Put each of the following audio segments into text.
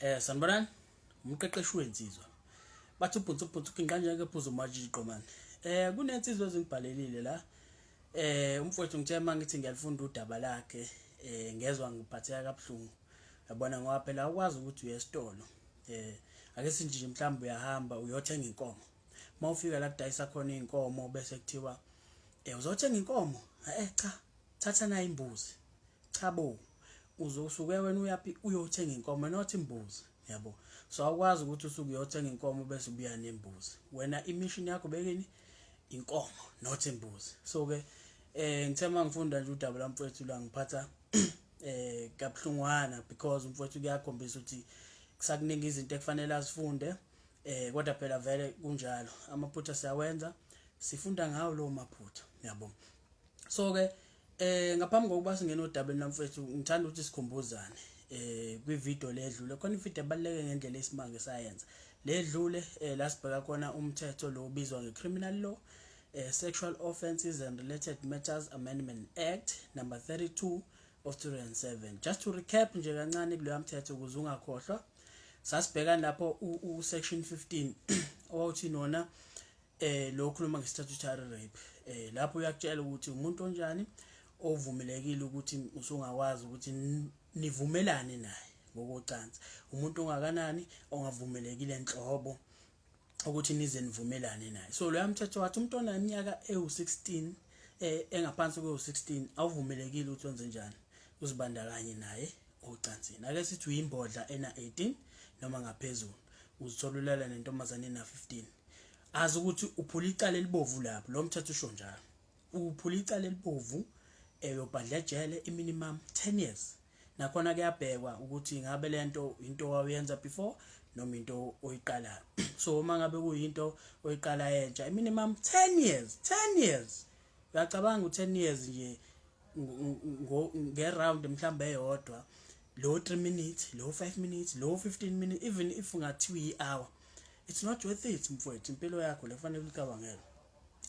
eh sanibonani umqeqeshi wensizwa bathi ubhunsu ubhunsu kinqanje ke phuza umajiko man eh kunensizwa ezingibhalelile la eh umfowethu ngithe mangithi ngiyalifunda udaba lakhe eh ngezwe ngiphatheka kabuhlungu yabona ngoba phela ukwazi ukuthi uye esitolo eh ake sinjinje mhlawumbe uyahamba uyothenga inkomo mawufika la kudayisa khona inkomo bese kuthiwa eh uzothenga inkomo eh cha thatha nayo imbuzi cha bo uzosuke wena uyaphi uyothenga inkomo not imbuzi yabo so awukwazi ukuthi usuke uyothenga inkomo bese ubuya nembuzi wena imishini yakho bekini inkomo not imbuzi so ke eh ngithe mangifunda nje udaba lamfowethu la ngiphatha eh kabuhlungwana because umfowethu kuyakhombisa ukuthi kusakuningi izinto ekufanele asifunde eh kodwa phela vele kunjalo amaphutha siyawenza sifunda ngawo lo maphutha yabo so ke eh ngaphambi kokuba singena odabeni namfethu ngithanda ukuthi sikhumbuzane eh kwi video ledlule khona i video ebaleke ngendlela isimanje sayenza ledlule eh lasibheka khona umthetho lo ubizwa nge criminal law eh, sexual offences and related matters amendment act number 32 of 2007 just to recap nje kancane kuleya mthetho ukuze ungakhohlwa sasibheka lapho u section 15 owawuthi nona eh lo khuluma nge-statutory rape eh lapho uyakutshela ukuthi umuntu onjani ovumelekile ukuthi usungakwazi ukuthi nivumelane naye ngokocansi umuntu ongakanani ongavumelekile enhlobo ukuthi nize nivumelane naye so loya mthetho wathi umuntu oneminyaka ewu-16 eh engaphansi kwewu-16 awuvumelekile ukuthi wenze njani uzibandakanye naye ocansini. Ake sithi uyimbodla ena 18 noma ngaphezulu, uzithola ulala nentombazane ena 15. Azi ukuthi uphula icala elibovu lapho, lo mthetho usho njalo. Uphula icala elibovu eyobhadla eh, ejele iminimum 10 years. Nakhona kuyabhekwa ukuthi ngabe lento into wayenza before noma into oyiqalayo. So uma ngabe kuyinto oyiqala entsha, iminimum 10 years, 10 years. Uyacabanga u10 years nje ngeround mhlawumbe eyodwa lo 3 minutes lo 5 minutes lo 15 minutes even if ungathiwa i-hour it's not worth it mfowethu impilo yakho lekufanele ulicabangele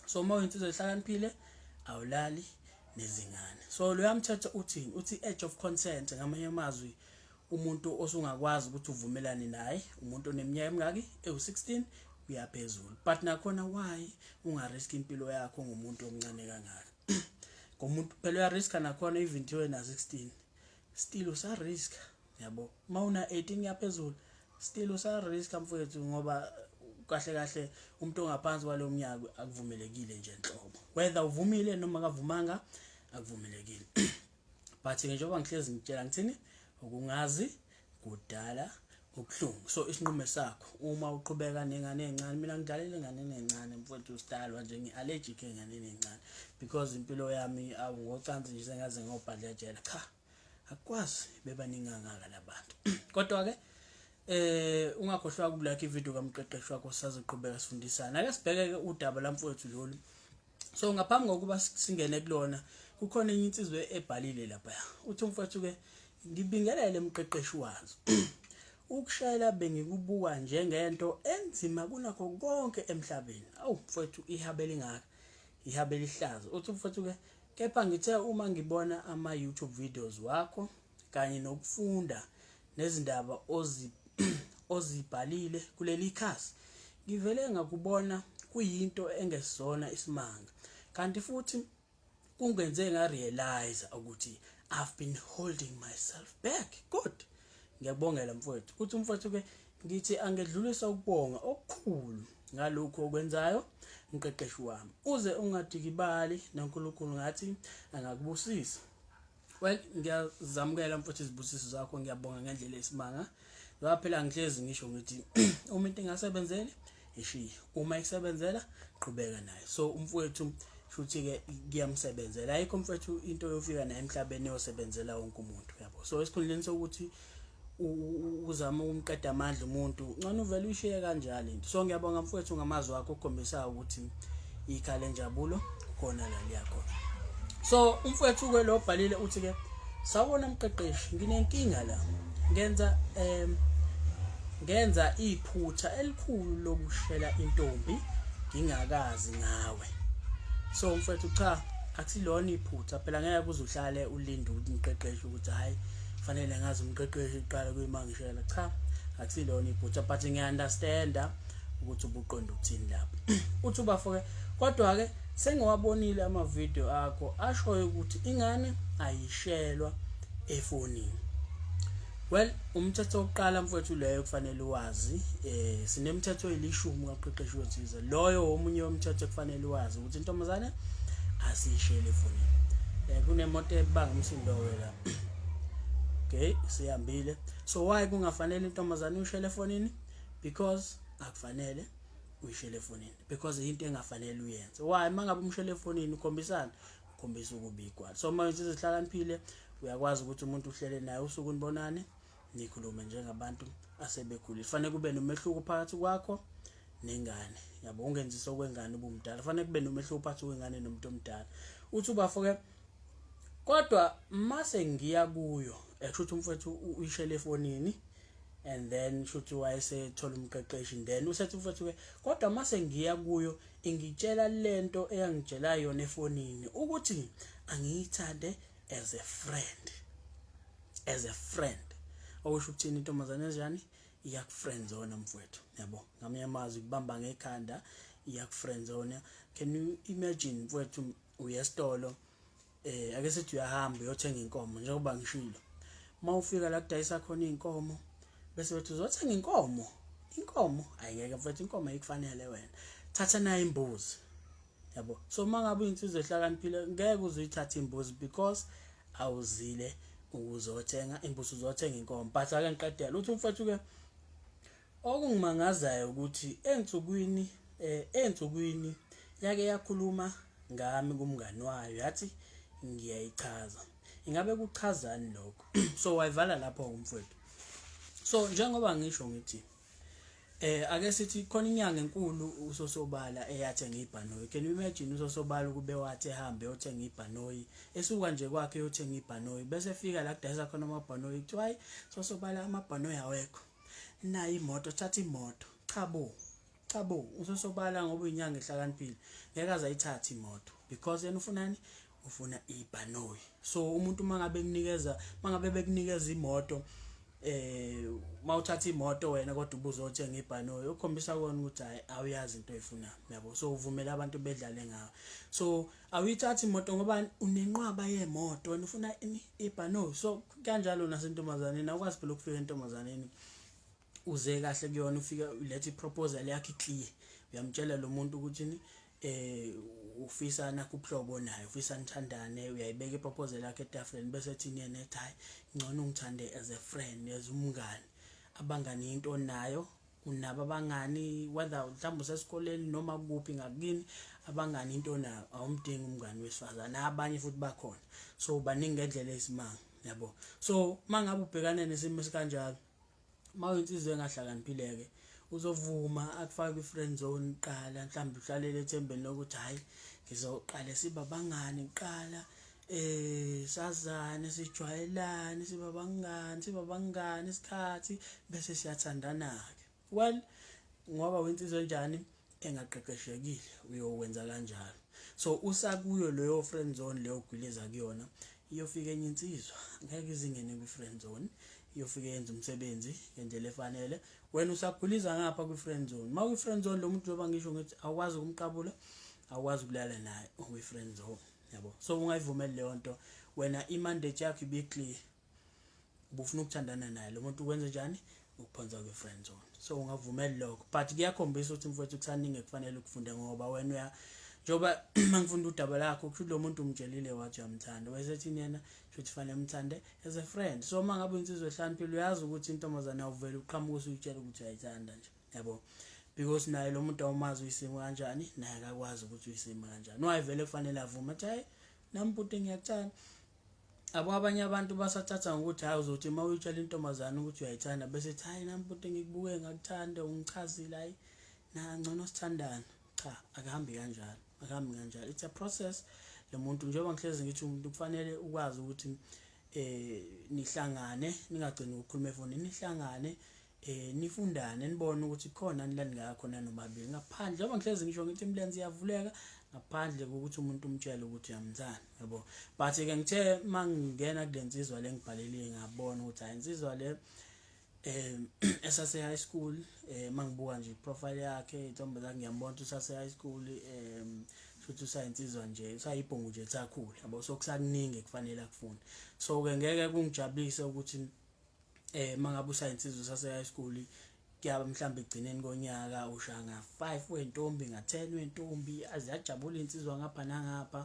so uma uyinsizwa ehlakaniphile awulali nezingane so loya mthetho uthini uthi age of consent ngamanye amazwi umuntu osungakwazi ukuthi uvumelane naye umuntu oneminyaka emingaki ewu-16 kuyaphezulu but nakhona why ungarisk impilo yakho ngomuntu omncane kangaka ngomuntu phela uyariska nakhona even thiwe na 16 still usariska yabo uma una 18 yaphezulu still usariska mfowethu ngoba kahle kahle umuntu ongaphansi kwalowo mnyaka akuvumelekile nje nhlobo whether uvumile noma kavumanga akuvumelekile but-ke njengoba ngihlezi ngitshela ngithini ukungazi kudala ubuhlungu so isinqumo sakho uma uqhubeka nengane encane mina ngidlalela ingane encane mfowethu usidalwa nje ngi-allergic enganeni encane because impilo yami awu ngocansi nje sengaze ngobhadlejela cha akukwazi bebaningi kangaka labantu kodwa-ke eh ungakhohlwa ukulike ivideo kamqeqeshi wakho sazoqhubeka sifundisana ake sibheke-ke udaba lamfowethu lolu so ngaphambi kokuba singene kulona kukhona enye insizwe ebhalile lapha uthi umfowethu ke ngibingelele emqeqeshi wazo ukushayela bengikubuka njengento enzima kunakho konke emhlabeni awu mfowethu ihabela ingaka ihabela ihlazo uthi mfowethu ke kepha ngithe uma ngibona ama YouTube videos wakho kanye nokufunda nezindaba ozibhalile kuleli khasi ngivele ngakubona kuyinto engesona isimanga kanti futhi kungenze ngarealize ukuthi I've been holding myself back good ngiyabongela mfowethu ukuthi umfowethu ke ngithi angedlulisa ukubonga okukhulu ngalokhu okwenzayo mqeqeshi wami uze ungadikibali noNkulunkulu ngathi angakubusisa well ngiyazamukela mfowethu izibusiso zakho ngiyabonga ngendlela esimanga ngoba phela ngihlezi ngisho ngithi uma into ingasebenzeli ishiye uma isebenzela qhubeka nayo so umfowethu futhi ke kuyamsebenzela ayikho mfowethu into yofika naye emhlabeni yosebenzela wonke umuntu yabo so esikhundleni sokuthi uzama ukumqeda amandla umuntu ngcono uvele uyishiye kanjalo into so ngiyabonga mfowethu ngamazwi akho okhombisayo ukuthi ikhaya lenjabulo khona la liyakhona so umfowethu-ke lo obhalile uthi-ke sawubona mqeqeshi nginenkinga la ngenza um ngenza iphutha elikhulu lokushela intombi ngingakazi ngawe so mfowethu cha akusilona iphutha phela ngeke kuze uhlale ulinde ukuthi ngiqeqeshe ukuthi hhayi fanele ngazi umqeqeshi uqala kuyimangishela cha akusilona iphutha but ngiyaunderstanda ukuthi ubuqonda ukuthini lapho uthi ubafo-ke kodwa-ke sengiwabonile amavidiyo akho ashoyo ukuthi ingane ayishelwa efonini well umthetho wokuqala mfowethu leyo kufanele wazi eh sinemithetho elishumi kaqeqeshi wethize loyo omunye womthetho kufanele wazi ukuthi intombazane asishele efonini eh kunemoto ebanga umsindo wela okay sihambile so why kungafanele intombazane uyishele efonini because akufanele uyishele efonini because into engafanele uyenze why mangabe umshele efonini ukhombisana ukhombisa ukubikwa so uma wenza izihlakaniphile uyakwazi ukuthi umuntu uhlele naye usuku nibonane nikhulume njengabantu asebekhulile fanele kube nomehluko phakathi kwakho nengane yabo ungenzisa okwengane ubumdala fanele kube nomehluko phakathi kwengane nomuntu omdala uthi ubafo ke kodwa mase ngiya kuyo eshuthi umfethu uyishele efonini and then shuthi wayesethola umqeqeshi then usethi mfethu ke kodwa mase ngiya kuyo ingitshela lento eyangitshela yona efonini ukuthi angiyithande as a friend as a friend okusho ukuthini intombazane enjani iyakufriend zone mfowethu yabo ngamanye amazwi kubamba ngekhanda iyakufriend zone can you imagine mfowethu uya esitolo eh ake sithi uyahamba uyothenga inkomo njengoba ngishilo uma ufika la kudayisa khona inkomo bese bethi uzothenga inkomo inkomo ayingeke mfethu inkomo ayikufanele wena thatha nayo imbuzi yabo so mangabe insizwe ehlakaniphile ngeke uzuyithatha imbuzi because awuzile ukuzothenga imbuzi uzothenga inkomo but ake ngiqedela uthi umfethu ke Okungimangazayo ukuthi ensukwini ensukwini yake yakhuluma ngami kumngani wayo yathi ngiyayichaza. Ingabe kuchazani lokho? So wayivala lapho umfowethu. So njengoba ngisho ngithi Eh ake sithi khona inyanga enkulu usosobala eyathenga ibhanoyi. Can you imagine usosobala ukube wathi ehambe yothenga ibhanoyi. Esuka nje kwakhe yothenga ibhanoyi bese efika la kudayisa khona amabhanoyi kuthiwa hayi sosobala amabhanoyi awekho. nayo imoto thatha imoto cha bo cha bo usesobala ngoba uyinyanga ehlakaniphile ngeke azayithatha imoto because yena ufunani ufuna ibhanoyi so umuntu uma ngabe kunikeza uma ngabe bekunikeza imoto eh mawuthatha imoto wena kodwa ubuzothenga ibhanoyi ukhombisa kona ukuthi hayi awuyazi into oyifuna yabo so uvumela abantu bedlale ngawe so awuyithathi imoto ngoba unenqwaba yemoto wena ufuna ini ibhano so kanjalo nasentombazaneni awukwazi phela ukufika entombazaneni uze kahle kuyona ufika ulethe iproposal yakhe iclear uyamtshela lo muntu ukuthi ni eh ufisa nakubuhlobo naye ufisa nithandane uyayibeka iproposal yakhe etafuleni bese ethi yena ethi hayi ngcono ungithande as a friend as umngani abangani into nayo unabo abangani whether mhlawumbe usesikoleni noma kuphi ngakini abangani into onayo awumdingi umngani wesifazane abanye futhi bakhona so baningi ngendlela eyisimanga yabo so mangabe ubhekane nesimo esikanjalo mawensizwe engahlakaniphileke uzovuma akufake i-friend zone qala mhlawumbe uhlalele ethembeni lokuthi hhayi ngizoqale siba bangani kuqala eh sazane sijwayelane siba bangani siba bangani isikhathi bese siyathandana ke well ngoba wensizwe njani engaqeqeshekile uyowenza kanjalo so usakuyo leyo friend zone leyo gwiliza kuyona iyofika enye insizwa ngeke izingene kwi friend zone iyofika yenza umsebenzi ngendlela efanele wena usaguliza ngapha kwi friend zone ma kwi friend zone lo muntu njengoba ngisho ngithi awukwazi ukumqabula awukwazi ukulala naye ukwi friend zone yabo so ungayivumeli leyo nto wena imandate yakho ibiclear ubufuna ukuthandana naye lo muntu ukwenze njani ukuphonsa kwi-friend zone so ungavumeli lokho but kuyakhombisa ukuthi mfowethu kusaningi ekufanele ukufunde ngoba wena uya njengoba mangifunda udaba lakho kusho ukuthi lo muntu umtshelile wathi uyamthanda wayesethini yena shuthi fanele umthande as a friend so uma ngabe insizwa ehlaniphile uyazi ukuthi intombazane awuvele uqhamuke usuyitshela ukuthi uyayithanda nje yabo because naye lo muntu awumazi uyisimo kanjani naye akakwazi ukuthi uyisimo kanjani no ayivele kufanele avume athi hayi nami bhuti ngiyakuthanda abo abanye abantu basathatha ngokuthi hayi uzothi uma uyitshela intombazane ukuthi uyayithanda bese ethi hayi nami bhuti ngikubuke ngakuthanda ungichazile hayi nangcono sithandana cha akuhambi kanjalo akuhambi kanjalo it's a process lo muntu njengoba ngihlezi ngithi umuntu kufanele ukwazi ukuthi eh nihlangane ningagcini ukukhuluma efonini nihlangane eh nifundane nibone ukuthi khona ni la ningaya khona nomabili ngaphandle njengoba ngihlezi ngisho ngithi imilenze iyavuleka ngaphandle kokuthi umuntu umtshele ukuthi uyamthanda yabo but ke ngithe mangingena kulensizwa lengibhalele ngabona ukuthi hayi insizwa le eh esase high school eh mangibuka nje profile yakhe intombi zakhe ngiyambona ukuthi usase high school eh futhi usayinsizwa nje usayibhongo nje sakhula yabo so kusakuningi kufanele akufune so ke ngeke kungijabulise ukuthi eh mangabe usaya insizwe sase high school kuyaba mhlawumbe egcineni konyaka ushaya nga 5 wentombi nga 10 wentombi aziyajabula insizwa ngapha nangapha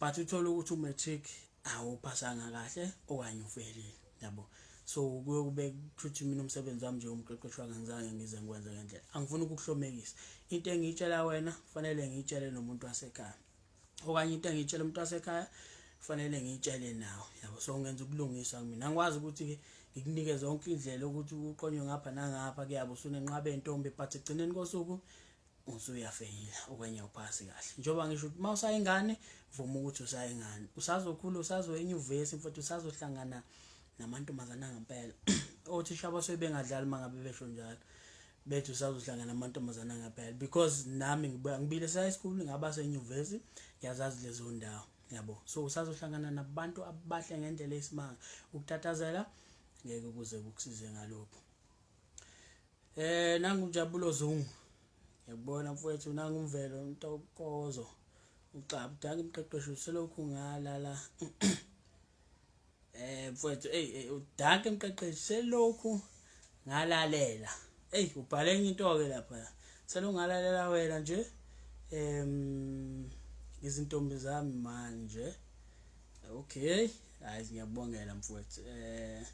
but uthola ukuthi u matric awuphasanga kahle okanye ufelile yabo so kuye kube kuthuthi mina umsebenzi wami nje umqeqeshi wangenzange ngize ngikwenze ngendlela angifuni ukukuhlomekisa into engiyitshela wena kufanele ngiyitshele nomuntu wasekhaya okanye into engiyitshela umuntu wasekhaya kufanele ngiyitshele nawo yabo so ngenza ukulungiswa mina ngikwazi ukuthi-ke ngikunike zonke indlela ukuthi uqonywe ngapha nangapha kuyabo usunenqaba entombi but ekugcineni kosuku usuyafeyila okwenye uphasi kahle njengoba ngisho ukuthi uma usayingane vuma ukuthi usayingane usazokhula usazoya enyuvesi mfowethu usazohlangana namantombazana angempela othisha basuke bengadlali uma ngabe besho njalo bethu sazohlangana amantombazana ngaphela because nami ngibuya ngibile sa high school ngaba senyuvesi ngiyazazi lezo ndawo yabo so usazohlangana nabantu abahle ngendlela esimanga ukuthathazela ngeke kuze kukusize ngalokho eh nangu njabulo zungu yabona mfowethu nangu umvelo ntokozo uxabudaka imqeqeshi uselokhu ngalala eh mfowethu ey eh, udanke mqeqeshi selokhu ngalalela ey ubhale enye into ke lapha selungalalela wena nje em izintombi zami manje okay hayi ngiyabongela mfowethu eh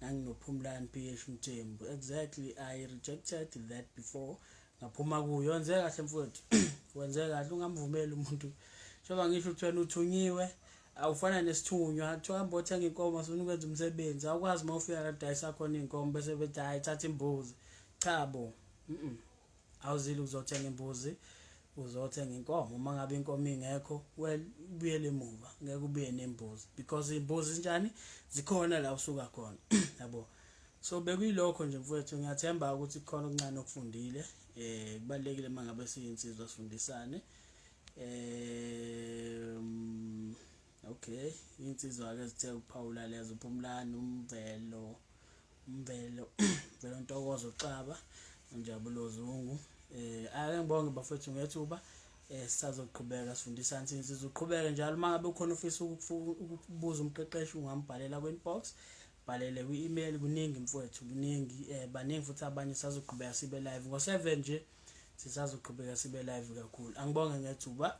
nanginophumlani PH Mthembu exactly i rejected that before ngaphuma kuyo wenze kahle mfowethu wenze kahle ungamvumeli umuntu njengoba ngisho uthwena uthunyiwe awufana nesithunywa kuthiwa hamba othenga inkomo sifuna ukwenza umsebenzi awukwazi uma ufika kadayisa khona iy'nkomo bese bethi hhayi thatha imbuzi cha bo awuzile uzothenga imbuzi uzothenga inkomo uma ngabe inkomo ingekho well ubuyele emuva ngeke ubuye nembuzi because imbuzi njani zikhona la usuka khona yabo so bekuyilokho nje mfowethu ngiyathemba ukuthi kukhona okuncane okufundile eh kubalekile mangabe siyinsizwa sifundisane eh, um okay insizwa-ke zithe ukuphawula lezo uphumlani umvelo umvelo velo ntokozo xaba njabulo zungu eh ake ngibonge bafethu ngethuba eh sisazoqhubeka sifundisa insizwa uzoqhubeka njalo uma ngabe ukhona ufisa ukubuza umqeqeshi ungambhalela kwi-inbox Bhalele kwi email kuningi mfowethu kuningi eh baningi futhi abanye sazoqhubeka sibe live ngo 7 nje sisazoqhubeka sibe live kakhulu angibonge ngethuba